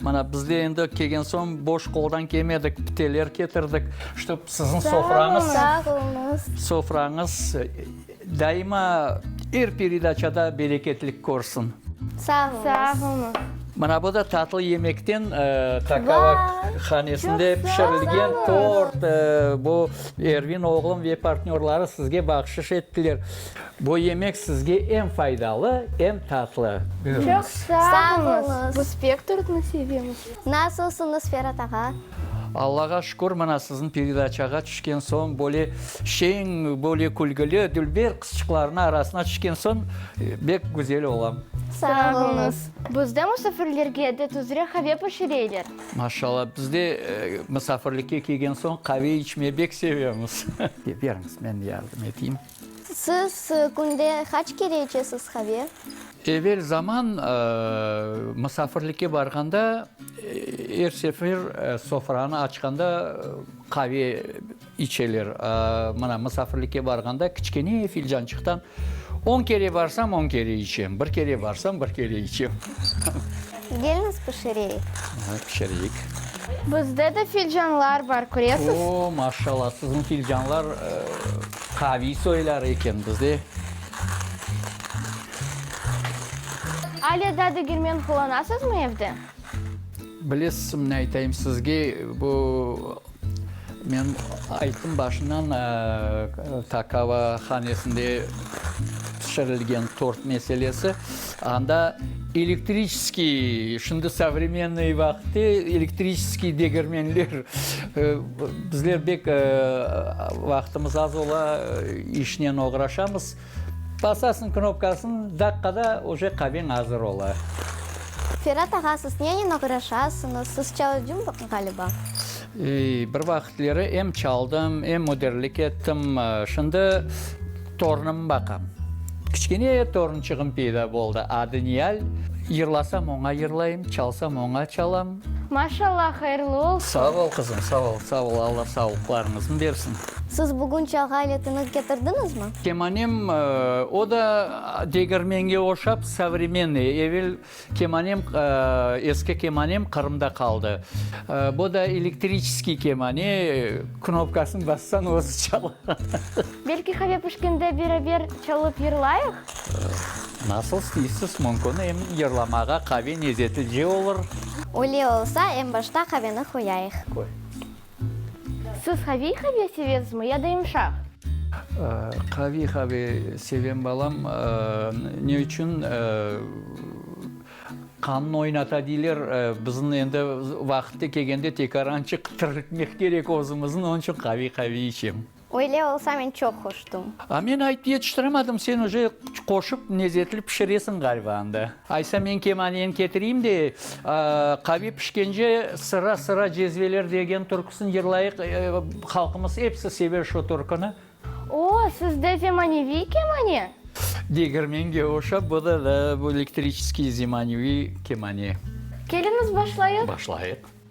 Mana, bizler endi kelgen soñ boş qoldan kelmedik, piteler ketirdik, ştob siziñ sofrañız. Sağ oluñız. Sofrañız daima er peredaçada bereketlik körsin. Sağ oluñız. Sağ oluñız. Mana, bu da tatlı yemekten Kakava hanesinde pişirilgen tort. Bu Ervin oğlum ve partnörları sizge bahşış ettiler. Bu yemek sizge em faydalı, em tatlı. Çoq sağolunız. Bu spektortnı sevemiz. Nasılsınız Ferat ağa? Allağa şükür, mına siziñ peredaçağa tüşken soñ böyle şeñ, böyle külgili, dülber qızçıqlarnıñ arasına tüşken soñ bek güzel olam. Sağolunız. Bizde musafirlerge de tuzre qave pişireyler. Maşallah, bizde musafirlikke kelgen soñ qave içmey bek sevemiz. Beriñiz, men yardım eteyim. Siz künde qaç kere içesiz qave? Evel zaman musafirlikke barğanda, er sefer sofranı açqanda qave içeler. Mına, musafirlikke barğanda kiçkene filcançıqtan on kere barsam, on kere içem, bir kere barsam, bir kere içem. Gelniz, pişireyik. Pişireyik. Bizde de filcanlar bar, köresiz. O, maşallah, siziñ filcanlar. Qaviy soylar eken bizde. Alâ da degermen qullanasızmı evde? Bilesizmi aytayım sizge, bu men ayttım başından, Takava hanesinde pişirilgen tort meselesi. Anda elektriçeskiy, şimdi savremennoy vaqıtte elektriçeskiy degermenler, bizler bek vaqıtımız az ola, işnen oğraşamız. Basasıñ knopkasın, daqqada oje qaveñ azır ola. Ferat ağa, siz nenen oğraşasıñız? Siz çalıcı, ğaliba? Bir vaqıtleri em çaldım, em müdirlik ettim. Şimdi torunıma baqam. Kiçkene torunçığım peyda boldı, adı Niyal. Yırlasam, oña yırlayım, çalsam, oña çalam. Maşallah, hayırlı olsun! Sağ ol, qızım, sağ ol, sağ ol. Alla sağlıqlarıñıznı bersin. Siz bugün çalğı aletiñiz ketirdiñizmi? Kemanem, o da degermenge oşap, savremenniy, evel Kemanem, eski kemanem Qırımda qaldı. Bu da elektriçeskiy kemane, knopkasını bassañ, özü çala. Belki qave pişkende beraber çalıp yırlayıq? Nasıl isteysiz, mümkün, em yırlamağa qave nezeti de olur. Öyle olsa, em başta qaveni qoyayıq. Qoy. Siz qaviy qave sevezmi ya da yumşaq? Qaviy qave sevem balam. Ne içün? Qannı oynata diyler. Bizni endi vaqıtı kelgende tekaran çıqtırtmek kerek özümüzni. Onıñ içün qaviy qave içem. Öyle olsa men çoq hoştum. A men ayt yetiştiremedim, sen oje qoşıp nezetli pişiresiñ galiba anda. Aysa men kemaniyen ketireyim de, qavi pişkence sıra sıra cezveler degen türküsin yırlayıq, halqımız episi sever şu türküni. O, sizde zemaneviy kemane? Degermenge oşap, bu da da bu elektriçeskiy zemaneviy kemane. Kelimiz başlayıq? Başlayıq.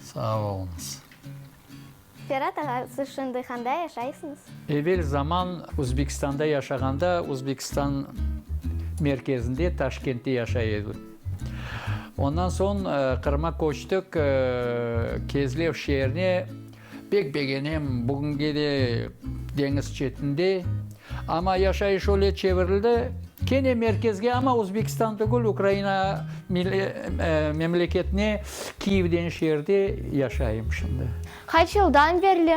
Sağ oluñız. Ferat ağa, siz şimdi handa yaşaysıñız? Evel zaman Özbekistanda yaşağanda, Özbekistan merkezinde, Taşkentte yaşay edim. Ondan soñ Qırım'a köçtik, Kezlev şeerine. Pek begenem, bugünge de deñiz çetinde. Amma yaşayış öyle çevirildi, kene merkezge, amma Özbekistan tügül, Ukraina memleketine, Kiyev degen şeerde yaşayım şimdi. Qaç yıldan berli?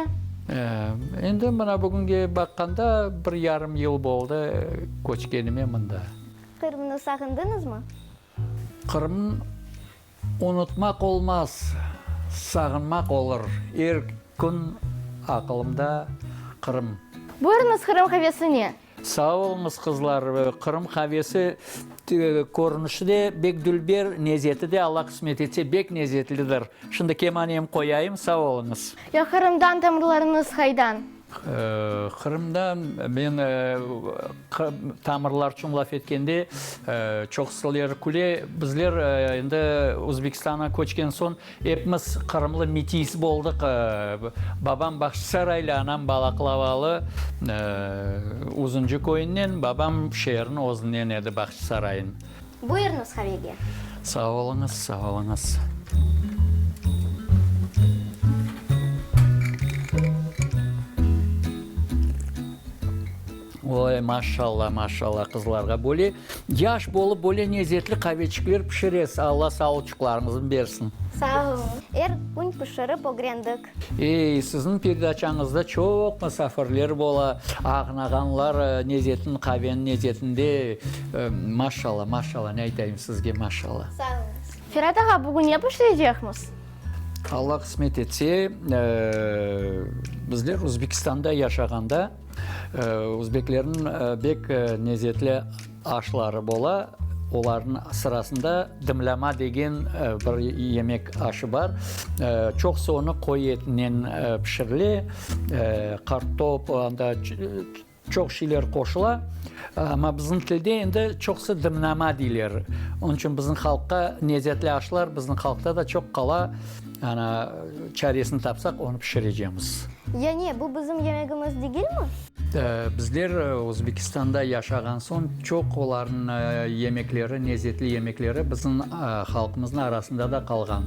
Endi mına bugünge baqqanda bir yarım yıl boldı köçkenime mında. Qırımnı sağındıñızmı? Qırım. Unutmaq olmaz, sağınmaq olur. Er kün aqılımda Qırım. Buyurıñız Qırım qavesine. Sağ oluñız, qızlar. Qırım qavesi körünişi de bek dülber, nezeti de, Alla qısmet etse, bek nezetlidir. Şimdi kemanem qoyayım. Sağ oluñız. Ya Qırımdan tamırlarıñız qaydan? Qırımda men tamırlar içün laf etkende, çoqusıler küle, bizler endi Özbekistanğa köçken soñ epimiz qırımlı mitiys boldıq, babam Bağçasaraylı, anam Balaklavalı, Uzuncu köyünden, babam şeerniñ özünden edi, Bağçasarayniñ. Buyurıñız havege. Sağ oluñız, sağ oluñız. Oy, maşalla, maşalla qızlarğa böyle yaş bolıp böyle nezetli qaveçikler pişiresiz. Alla sağlıçıqlarıñıznı bersin. Sağ oluñ. Er kün pişirip ögrendik. Ey, sizniñ perdaçañızda çoq musafirler bola, ağnağanlar nezetin, qaveniñ nezetinde. Maşalla, maşalla, ne aytayım sizge, maşalla. Sağ olunız. Ferat ağa, bugün ne pişirecekmiz? Alla qısmet etse, bizler Özbekistanda yaşağanda, özbeklerniñ bek nezetli. Aşları bola, olarnıñ sırasında dımlama degen bir yemek aşı bar. Çoqusı onı qoyu etinen pişirile, qartop, anda çoq şeyler qoşula. Amma bizim tilde endi çoqusı dımlama deyler. Onıñ içün bizim halqqa nezzetli aşlar bizim halqta da çoq qala. Ana, çaresini tapsaq, onı pişirecemiz. Yani, bu bizim yemegimiz degilmi? Bizler Özbekistanda yaşağan soñ, çoq olarnı yemekleri, nezetli yemekleri bizim halqımıznı arasında da qalğan.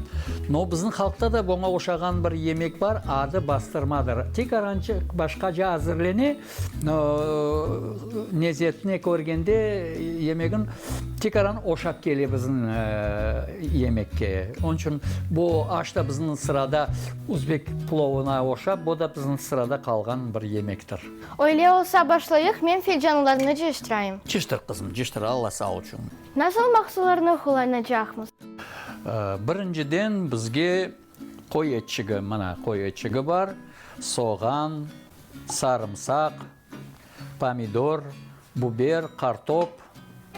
No, bizim halqta da boña oşağan bir yemek bar, adı bastırmadır. Tek arançıq başqaca azırlene. Nezetni körgende yemegin tikaran oşap kele bizim yemekke. Onıñ içün bu aş da bizim sırada uzbek plovına oşap, bu da bizim sırada qalğan bir yemektir. Öyle olsa, başlayıq, men filcanlarnı ciştirayım. Ciştir, qızım, ciştir, Alla sağ olsun. Nasıl mahsullarnı qullanacaqmız? Birinciden, bizge Qoy etçigi, mına, qoy etçigi bar, soğan, sarımsaq, pomidor, buber, qartop,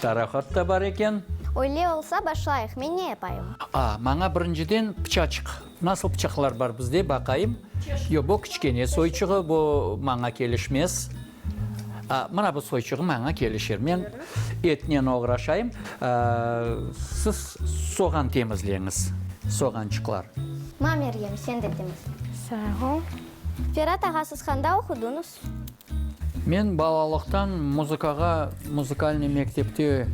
taraqat da bar eken. Öyle olsa, başlayıq. Men ne yapayım? A, maña birinciden pıçaçıq. Nasıl pıçaqlar bar bizde, baqayım. Yo, bu kiçkene soyçığı, bu maña kelişmez. Mına bu soyçuğı maña kelişir. Men etnen oğraşayım, siz soğan temizleñiz, soğançıqlar. Ma, Meryem, sen de temizle. Sağ ol. Ferat ağa, siz handa oqudıñız? Men balalıqtan muzıkağa, muzikalnıy mektepte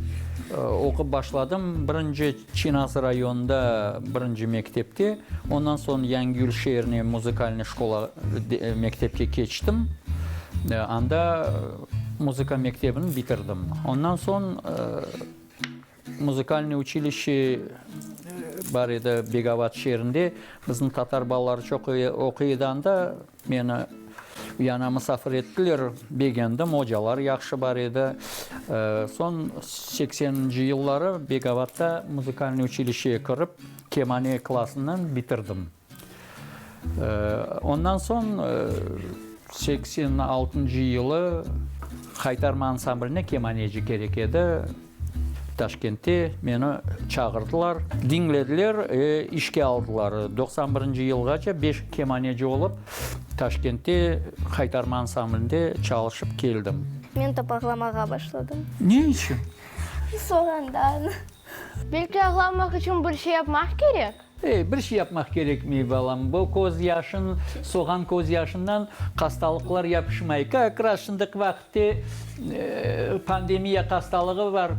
oqup başladım. Birinci. Çinaz rayonında birinci mektepke, ondan soñ Yangiyül şeerine muzikalnıy şkola, mektepke keçtim. Anda muzıka mektebini bitirdim. Ondan soñ muzikalnıy uçilişçe bar edi Begavat şeerinde. Bizim tatar balaları çoq oquy edi anda. Meni yana musafir ettiler, begendim, ocalar yahşı bar edi. Soñ sekseninci yılları Begovatta muzikalnıy uçilişeye kirip, kemane klasınen bitirdim. Ondan soñ seksen altıncı yılı Haytarma ansambline kemaneci kerek edi. Taşkentte meni çağırdılar, diñlediler ve işke aldılar. Doqsan birinci yılğaça beş kemaneci olıp, Taşkentte Haytarma ansamblinde çalışıp keldim. Men top ağlamağa başladım. Ne içün? Sorandan. Belki ağlamaq içün bir şey yapmaq kerek? Ey, bir şey yapmaq kerekmey, balam, bu köz yaşın, soğan köz yaşından hastalıqlar yapışmay. Kak raz şındaki vaqitte pandemiya hastalığı bar,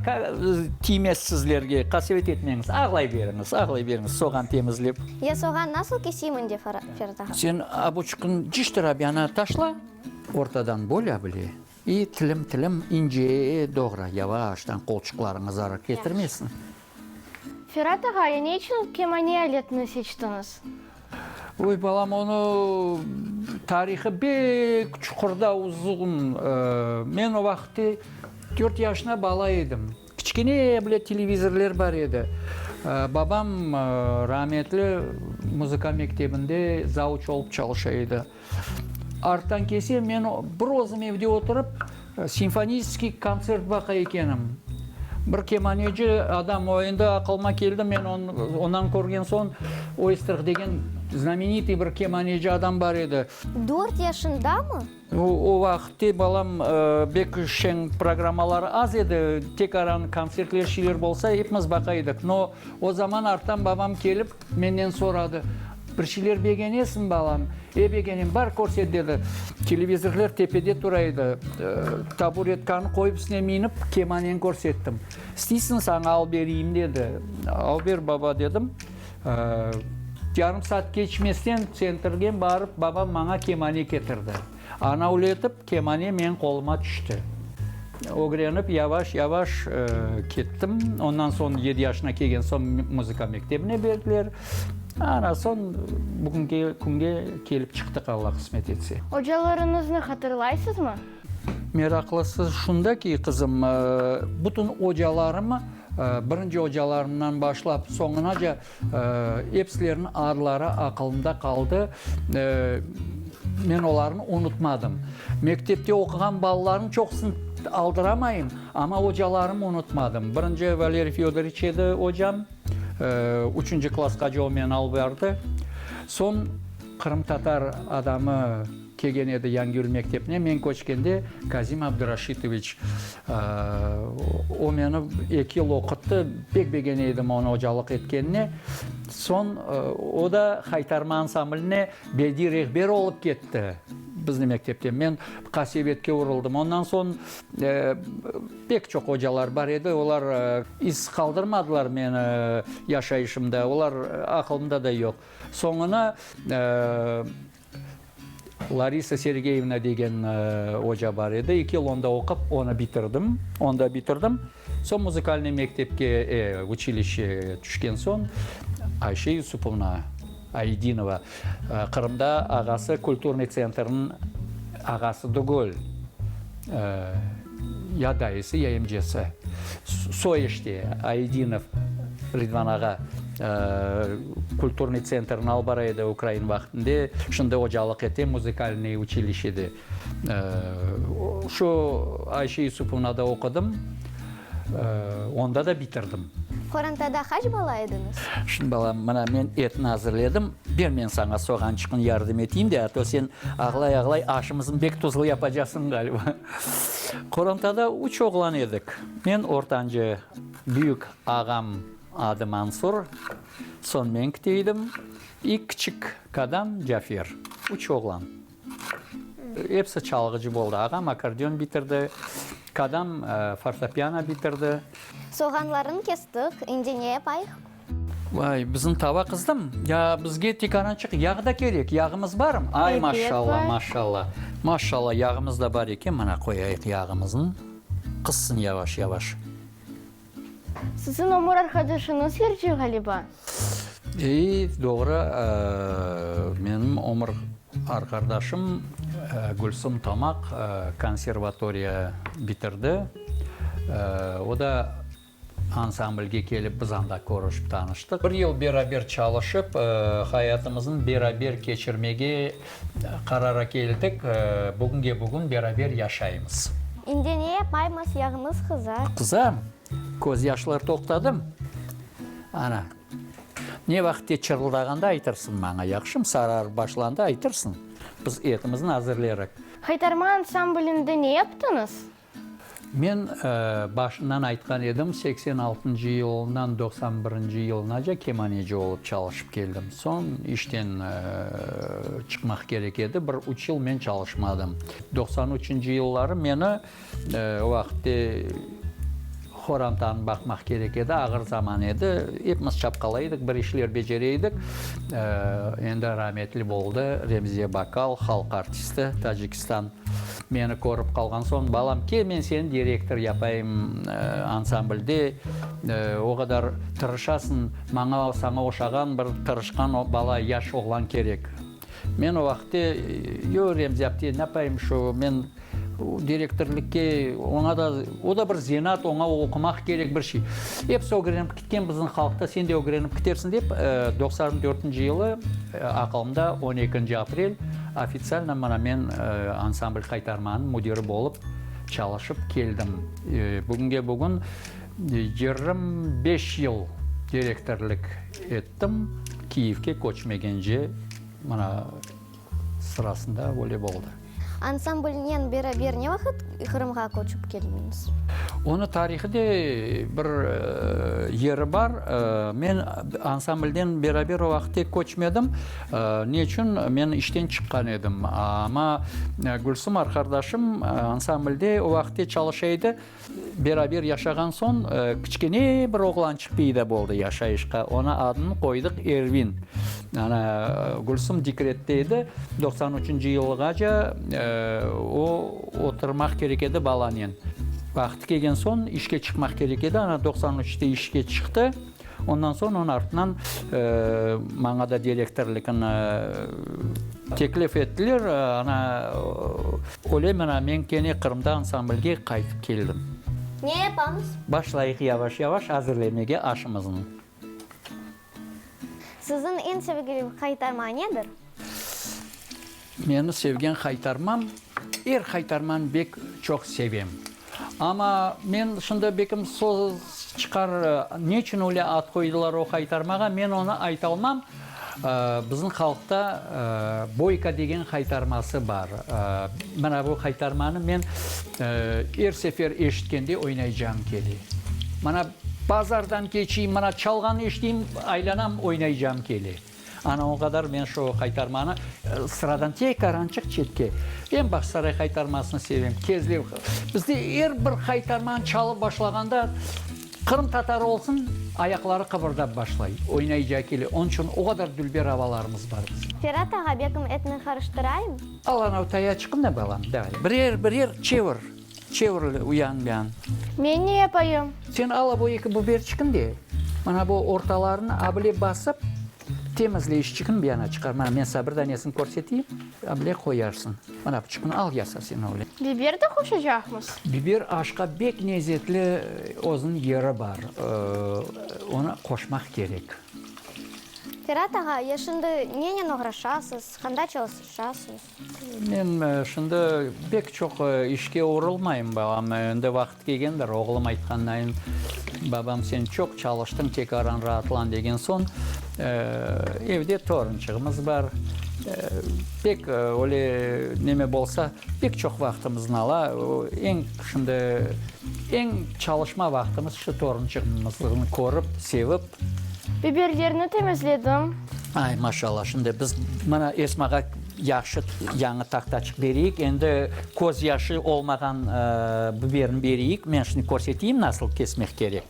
tiymez sizlerge, qasevet etmeñiz, ağlayveriñiz, ağlayveriñiz soğan temizlep. Ya soğan nasıl keseyim indi, Ferda? Sen abuçıkın ciştir abyanı taşla, ortadan böl abile i tilim-tilim ince doğra, yavaştan, qolçıqlarıñız zarar ketirmesin. Ferat ağa, ya ne içün kemane aletini seçtiñiz? Oy, balam, onı tarihı bek çuqurda, uzun. Men o vaqıtte dört yaşına bala edim. Kiçkene bile televizorlar bar edi. Babam, rametli, muzıka mektebinde zavuç olıp çalışa edi. Arttan kelse, men bir özüm evde oturıp, simfonistskiy kontsert baqa ekenim. Bir kemaneci adam oyunda aqılıma keldi, men ondan körgen soñ, Oystrx degen znamenitiy bir kemaneci adam bar edi. Dört yaşındamı? O vaqıtte balam bek şeñ programmalar az edi, tek aran kontsertler, şeyler bolsa, epimiz baqa edik. No, o zaman arttan babam kelip, Menden soradı, Bir şeyler begenesiñ, balam? E, begenem, bar, körset, dedi. Televizorlar tepede tura edi. Taburetkanı qoyıp, üstüne minip, kemaneni körsettim. İsteysiñ, saña alıp bereyim, dedi. Alıp ber, baba, dedim. Yarım saat keçmesten, tsentrgen barıp, babam maña kemane ketirdi. Anavletip kemane meñ qoluma tüşti. Ögrenip yavaş-yavaş kettim. Ondan soñ yedi yaşına kelgen soñ muzıka mektebine berdiler. Ana soñ bugüngi künge kelip çıqtıq, Alla qısmet etse. Ocalarıñıznı hatırlaysızmı? Meraqlısı şunda ki, qızım, bütün ocalarımı, birinci ocalarımdan başlap soñunaca Epsileriniñ adları aqılımda qaldı, men olarnı unutmadım. Mektepte oquğan balalarnıñ çoqusını aldıramayım, amma ocalarımı unutmadım. Birinci Valeriy Fedorıç edi ocam, üçünci klasqaca o meni alıp bardı. Soñ qırımtatar adamı. Kelgen edi Yangül mektepine, men köçkende, Kazim Abduraşitoviç. O meni eki yıl oquttı, pek begene edim onı ocalıq etkenine. Soñ o da Haytarma ansamblne bediy rehber olıp ketti bizni mektepten. Men qasevetke uruldım. Ondan soñ pek çoq ocalar bar edi, olar iz qaldırmadılar meni yaşayışımda, olar aqılımda da yoq. Soñuna Larisa Sergeyevna degen oca bar edi. Eki yıl onda oqup, onı bitirdim. Onda bitirdim. Soñ muzıkalnıy mektepke, e, uçilişşe tüşken soñ, Ayşe Yusupovna Aydinova, Qırımda ağası kulturnıy tsentrniñ ağası tügül, e, Ya dayısı, ya emcesi. Soeşte Aidinov Ridvan ağa kulturnıy tsentrni alıp bara edi ukrain vaqtında, şimdi ocalıq ete, muzikalnıy uçilişede. Şu Ayşe Yusupovnada oqudım, onda da bitirdim. Qorantada qaç bala ediñiz? Şimdi balam, mına men etni azırledim, ber men saña soğançıqnı yardım eteyim de, a to sen ağlay-ağlay aşımıznı bek tuzlu yapacaqsıñ, ğaliba. Qorantada üç oğlan edik. Men ortancı, büyük ağam adı Mansur, soñ men kite edim, i kiçik qadam Cafer. Üç oğlan. Episi çalğıcı boldı. Ağam akkordeon bitirdi, qadam fortopiano bitirdi. Soğanlarını kestik, indi ne yapayıq? Vay, bizim tava qızdım. Ya bizge tek arançıq yağ da kerek, yağımız barım? Ay, maşallah, maşallah. Maşallah, yağımız da bar eken, mına qoyayıq yağımızın, qızsın yavaş-yavaş. Sizin ömür arqadaşıñız yırcı ğaliba? Ey, doğru, menim ömür arqardaşım Gülsüm Tamaq konservatoriya bitirdi. O da. Ansamblge kelip, biz anda körüşip tanıştıq. Bir yıl beraber çalışıp, hayatımıznı beraber keçirmege qarara keldik. Bugünge bugün beraber yaşaymız. İndi ne yapaymız, yağımız qızar. Qızam, közyaşlar toqtadım. Ana, ne vaqıt ki çırıldağanda aytırsıñ maña, yahşımı? Sararıp başlanda aytırsıñ, biz etimizni azırlayrıq. Haytarma ansamblinde ne yaptıñız? Men başından aytqan edim, seksen altıncı yılından doqsan birinci yılınaca kemaneci olıp çalışıp keldim. Soñ işten çıqmaq kerek edi, bir üç yıl men çalışmadım. Doqsan üçünci yılları meni o vaqıtte, Qorantanı baqmaq kerek edi, ağır zaman edi. Epimiz çapqalay edik, bir işler becerey edik. Endi rametli boldı Remziye Bakal, halq artisti, Tacikistan. Meni körip qalğan soñ, Balam, kel, men seni direktor yapayım ansamblde, o qadar tırışasıñ, maña, saña oşağan bir tırışqan bala, yaş oğlan kerek. Men o vaqıtte, Yo, Remzi apte, napayım şu, men direktorlıkke, oña da, o da bir zenaat, oña oqumaq kerek, bir şey. Episi ögrenip ketken bizim halqta, sen de ögrenip ketersiñ, dep, doqsan dörtünci yılı aqalımda on ekinci aprel ofitsialno mına men ansambl qaytarmanıñ müdiri bolıp çalışıp keldim. Bugünge bugün yirmi beş yıl direktorlık ettim. Tım Kiyevke köçmegence mına sırasında böyle oldı. Ansamblnen beraber ne vaqıt Qırımğa köçip keldiñiz? Onı tarihı de bir yeri bar. Men ansamblnen beraber o vaqıt tek köçmedim. Ne içün? Men işten çıqqan edim. Amma Gülsüm arqardaşım ansamblde o vaqıtte çalışa edi. Beraber yaşağan soñ, kiçkene bir oğlançıq peyda boldı yaşayışqa. Oña adını qoydıq Ervin. Ana, Gülsüm dekrette edi, doqsan üçünci yılğaca o, oturmaq kerek edi balanen. Vaqtı kelgen soñ, işke çıqmaq kerek edi, ana, doqsan üçte işke çıqtı. Ondan soñ onı artından maña da direktorlıqnı teklif ettiler. Ana, ölem ana, men kene Qırımda ansamblge qaytıp keldim. Ne yapamız? Başlayıq yavaş-yavaş azirlemege aşımıznı. Siziñ eñ sevgili qaytarma nedir? Meni sevgen haytarmam, er haytarman bek çoq sevem. Ama men şunda bekim soz çıqar, neçün öyle ad qoydılar o haytarmağa, men onı aytalmam. Bizim halqta Boyka degen haytarması bar. Mına bu haytarmanı men er sefer eşitkende oynaycağım kele. Mına bazardan keçiyim, mına çalğanı eşiteyim, aylanam, oynaycağım kele. Ana o qadar men şu qaytarmanı sıradan tey qarançıq çetke. Em Bağçasaray qaytarmasını sevem, Kezlev. Bizde er bir qaytarmanı çalıp başlağanda Qırım tatarı olsun ayaqları qıbırdap başlay, oynayca kele. Onıñ içün o qadar dülber avalarımız bar bizim. Ferat ağa, bekim etni qarıştırayım? Al, anav taya çıqıp ne balam, davay, birer-birer çevir. Çevrili uyangan. Men ne yapayım? Sen al abo eki buberçikni de, mana bu ortalarını abile basıp, temizle işçikni bir yana çıqar. Mana men saña bir danesini körseteyim, abile qoyarsıñ. Mana bıçıqnı al, yasa sen o bilen. Biber de qoşacaqmız? Biber aşqa bek nezetli özüniñ yeri bar, onı qoşmaq kerek. Ferat ağa, ya şimdi nenen oğraşasız, qanda çalışasunız? Men şimdi pek çoq işke uğrılmayım, balam endi vaqıt kelgendir. Oğlum aytqannayin, Babam, sen çoq çalıştıñ, tekaran raatlan, degen soñ, evde torunçığımız bar. Pek öyle neme bolsa, pek çoq vaqtımıznı ala. Eñ şimdi, eñ çalışma vaqtımız şu torunçığımıznı körip, sevip, Biberlerni temizledim. Ay, maşallah! Şimdi biz mına Esmağa yahşı yañı taqtaçıq bereyik. Endi köz yaşı olmağan biberni bereyik. Men şimdi körseteyim, nasıl kesmek kerek.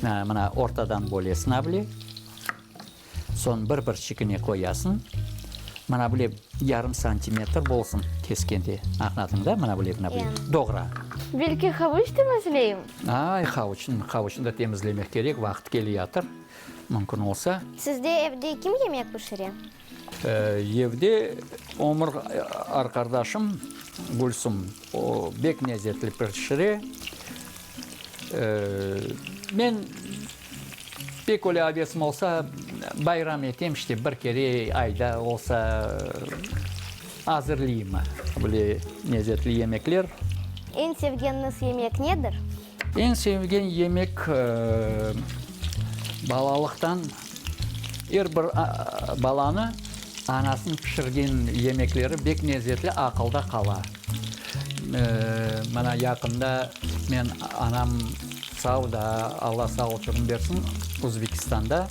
Mına ortadan bölesiñ avle. Soñ bir-bir şekline qoyasıñ. Mına böyle yarım santimetr bolsun keskende. Añladın da? Mına böyle, mına böyle doğra. Belki, havuç temizleyim? Ay, havuçnı, havuçnı da temizlemek kerek, vaqıt keliyatır, mümkün olsa. Sizde evde kim yemek pişire? Evde ömür arqardaşım Gülsüm, o bek lezetli pişire. Men. Pek öyle avesim olsa, bayram etem, işte, bir kere ayda olsa azırlayım böyle lezetli yemekler. Eñ sevgeniniz yemek nedir? Eñ sevgen yemek, balalıqtan er bir balanı anasınıñ pişirgen yemekleri bek lezetli, aqılda qala. Mana yaqında men anam sağ da, Alla sağlık ömür bersin, Uzbekistanda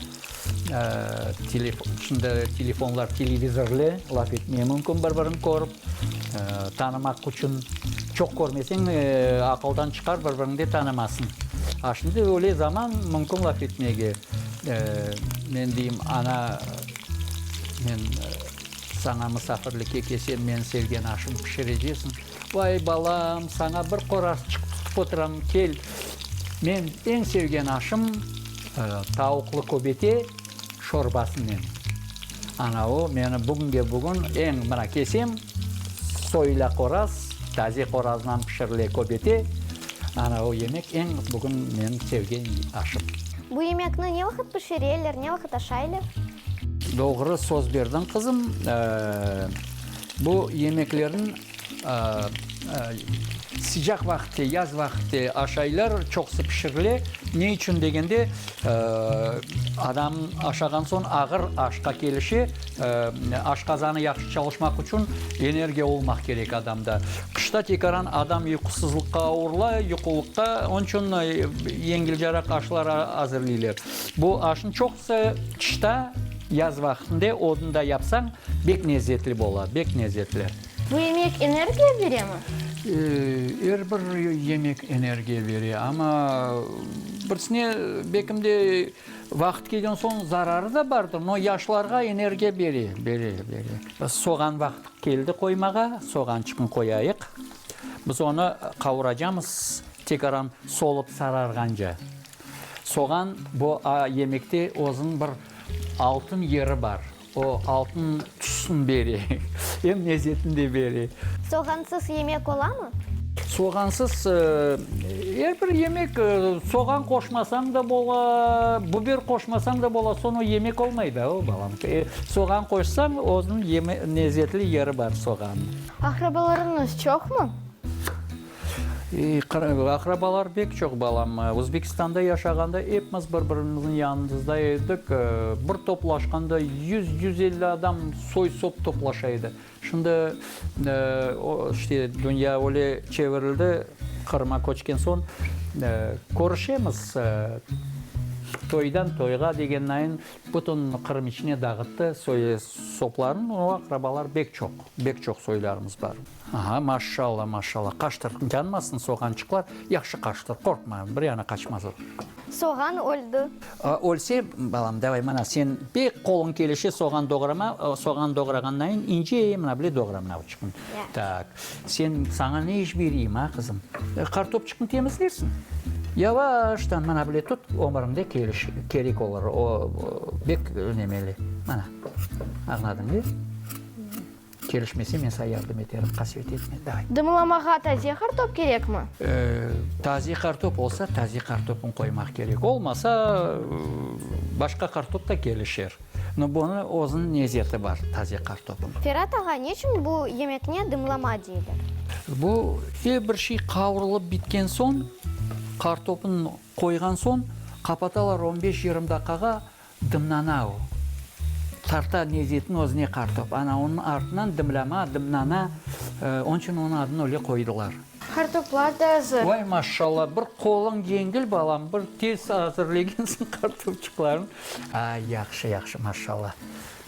şimdi telefonlar televizorlı, laf etmege mümkün bir birini körip, tanımaq içün çoq körmeseñ aqıldan çıqar bir biriñ de tanımasıñ. A şimdi öyle zaman mümkün laf etmege. Men deyim ana men Saña musafirlikke kelsem, meñ sevgen aşım pişirecesiñ. Vay, balam, saña bir qorarsçıq tutıp otıram, kel. Meñ eñ sevgen aşım tavuqlı köbete şorbasınen. Ana o, meni bugünge-bugün eñ, mına kelsem, soyula qoraz, taze qorazdan pişirile köbete, ana o yemek eñ bugün meñ sevgen aşım. Bu yemekni ne vaqıt pişireler, ne vaqıt aşaylar? Doğru söz berdiñ qızım. Bu yemeklerni sıcaq vaqıtte, yaz vaqıtte aş aylar çoqusı pişirile. Ne içün degende, adam aşağan soñ ağır aşqa kelişe, aşqazanı yahşı çalışmaq içün energiya olmaq kerek adamda. Qışta tekaran adam yuqusızlıqqa avurıla, yuqulıqta, onıñ içün yengilcaraq aşlar azırlıylar. Bu aşnı çoq Qısı qışta, yaz vaqtında odunda yapsañ, bek lezzetli bola, bek lezzetli. Bu yemek energiya beremi? Er bir yemek energiya bere, amma birsine bekimde vaqıt kelgen soñ zararı da bardır, no yaşlarğa energiya bere, bere, bere. Soğan vaqtı keldi qoymağa, soğançıqnı qoyayıq. Biz onı qavuracamız, tekrardan solıp sararğance. Soğan, bu yemekte özüniñ bir altın yeri bar. O, altın tüsün bere, em lezzetini de bere. Soğansız yemek olamı? Soğansız er bir yemek, soğan qoşmasañ da bola, biber qoşmasañ da bola, soñ o yemek olmay da, balam. Soğan qoşsañ, özüniñ lezzetli yeri bar soğanniñ. Aqrabalarıñız çoqmı? Aqrabalar bek çoq, balam. Özbekistanda yaşağanda epmiz bir-birimizniñ yanımızda edik. Bir toplaşqanda yüz, yüz elli adam, soy-sop toplaşa edi. Şimdi işte dünya öyle çevirildi, Qırım'a köçken soñ körüşemiz. Toydan toyğa degen nayın bütün Qırım içine dağıttı soy-soplarını. Aqrabalar bek çoq, bek çoq soylarımız bar. Aha, maşşalla, maşşalla, qaştır, yanmasın soğançıqlar, yahşı qaştır, qorqma, bir yana qaçmaz o. Soğan öldi. A, ölse, balam, davay, mana sen pek qoluñ kelişe soğan doğrama, o, soğan doğrağannayin ince, mına bile doğra mınavçıqnı. Ya. Tak, sen, saña ne iş bereyim, a, qızım? E, qartopçıqnı temizlersiñ, yavaştan mına bile tut, ömüriñde keliş, kerek olur, o, o, bek önemeli, mana, añladın be? Kelişmese, men saña yardım eterim, qasvet etme, day. Dımlamağa taze qartop kerekmi? E, taze qartop olsa, taze qartopnı qoymaq kerek. Olmasa, başqa qartop da kelişer. No, bunı özüniñ nezeti bar, taze qartopnıñ. Ferat ağa, neçün bu yemekne dımlama deyler? Bu, er bir şey qavrulıp bitken soñ, qartopnı qoyğan soñ, qapatalar on beş-yirmi daqqağa, Dımnana o. Tarta nezetini özüne qartıp. Ana onıñ artınan dımlama, dımnana, onıñ içün onıñ adını öyle qoydılar. Qartoplar da azır. Vay, maşşalla, bir qoluñ yengil, balam, bir tez azırlegensiñ qartopçıqlarnı. A, yahşı, yahşı, maşşalla.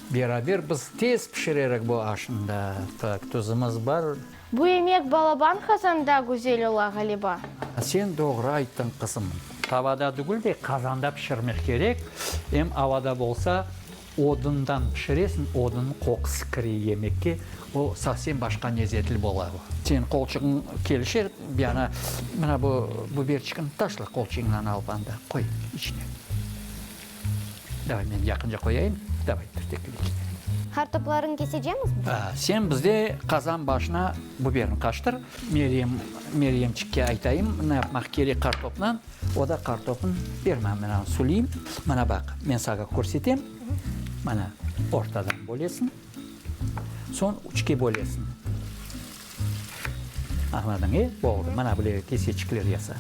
Beraber biz tez pişirerik bu aşnıda. Tak, tuzumız bar. Bu emek balaban qazanda güzel ola, ğaliba. Sen doğru ayttıñ, qızım. Tavada degil de, qazanda pişirmek kerek, em avada bolsa, odundan pişiresiñ, odunnıñ qoqusı kire yemekke, o sovsem başqa lezetli bola. Señ qolçuğıñ kelişe, bir ana, mına bu biberçikni taşla qolçuğıñnan alıp anda, qoy içine. Davay, men yaqınca qoyayım. Davay, tüftekli. Kartoplarıñ kesecemiz biz? Aa, sen bizde qazan başına buberni qaştır. Meryem, Meryemçikke aytayım, ne yapmaq kerek kartopnıñ. O da kartopnı ber maña, men anı suleyim. Mana baq, men saña körsetem. Mana, ortadan bölesiñ, soñ üçke bölesiñ. Añladın, e? Oldı, mana böyle keseçikler yasa.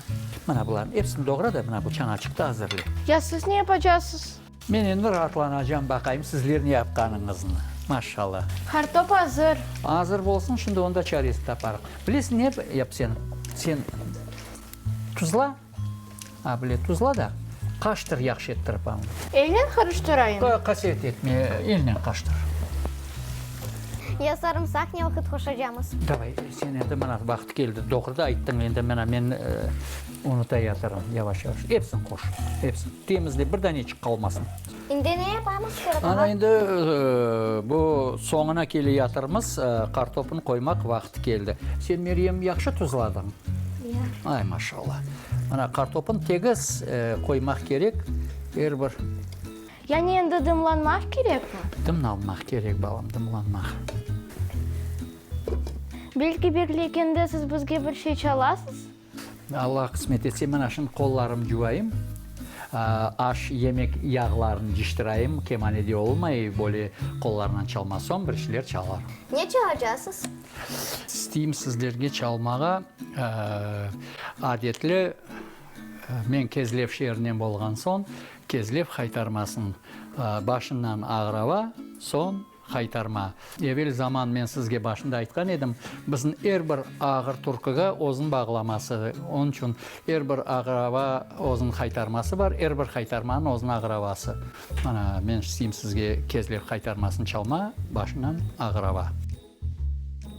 Mana bularnıñ episini doğra da, mına bu çañaçıqtı azırla. Ya siz ne yapacasız? Men endi raatlanacam, baqayım sizler ne yapqanıñıznı. Maşallah. Kartop azır. Azır bolsun, şimdi onda çaresini taparıq. Bilesiñ, ne yap sen? Sen tuzla. A bile tuzla da, qaştır yahşı ettirip añı. Elnen qarıştırayım. Qa, qasiyet etme, elnen qaştır. Ya sarımsaq ne vaqıt qoşacamız? Davay, sen endi mına vaqıt keldi, doğru da ayttıñ, endi mına men unutayatırım, yavaş-yavaş. Epsin qoş, epsin. Temizle, bir daneçik qalmasın. İndi ne yapamız, Ferhat ağa? Ana, indi bu soñuna keleyatırmız, kartopnı qoymaq vaqıtı keldi. Sen, Meryem, yahşı tuzladıñ? Ya. Ay, maşallah. Ana, kartopnı tegiz qoymaq kerek, er bir. Yani endi dımlanmaq kerekmi? Dımlanmaq kerek, balam, dımlanmaq. Belki, bekleygende siz bizge bir şey çalasız? Alla qısmet etse, mana şimdi qollarım cuvayım, aş, yemek yağlarını ciştirayım, kemane de olmay, böyle qollarınan çalma soñ bir şeyler çalarım. Ne çalacasız? İsteyim sizlerge çalmağa adetli, men Kezlev şeerinen bolğan soñ, Kezlev haytarmasın, başından Ağrava, soñ, Qaytarma. Evel zaman men sizge başında aytqan edim, bizim er bir ağır turkıga özün bağlaması, onıñ içün er bir ağırava özün qaytarması bar, er bir qaytarmanıñ özün ağıravası. Mana, men isteyim sizge kezlev qaytarmasını çalma, başından ağırava.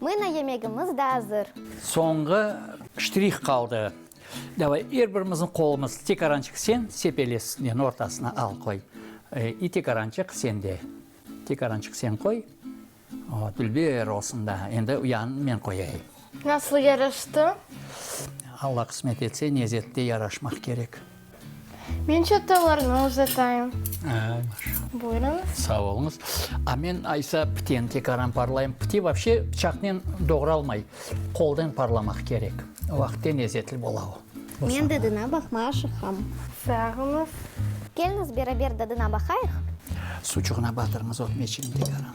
Mına yemegimiz da azır. Soñğı ştrih qaldı. Davay, er birimizniñ qolumız tekarançıq sen sepelez, nen ortasına al qoy. İ tekarançıq sende. Tekarançıq sen qoy. O, dülber olsun da. Endi uyanını men qoyayım. Nasıl yaraştı? Alla qısmet etse, nezette yaraşmaq kerek. Men çatallarnı uzatayım. Buyurıñ. Sağ oluñız. A men aysa piten tekaran parlayım. Piti vapşe pıçaqnen doğralmay, qoldan parlamaq kerek. O vaqıt de lezetli bola o. Men dadına baqma aşıqam. Sağ oluñız. Keliñiz, beraber dadına baqayıq. Suçuqna batırıñız ot meçirin tekaran.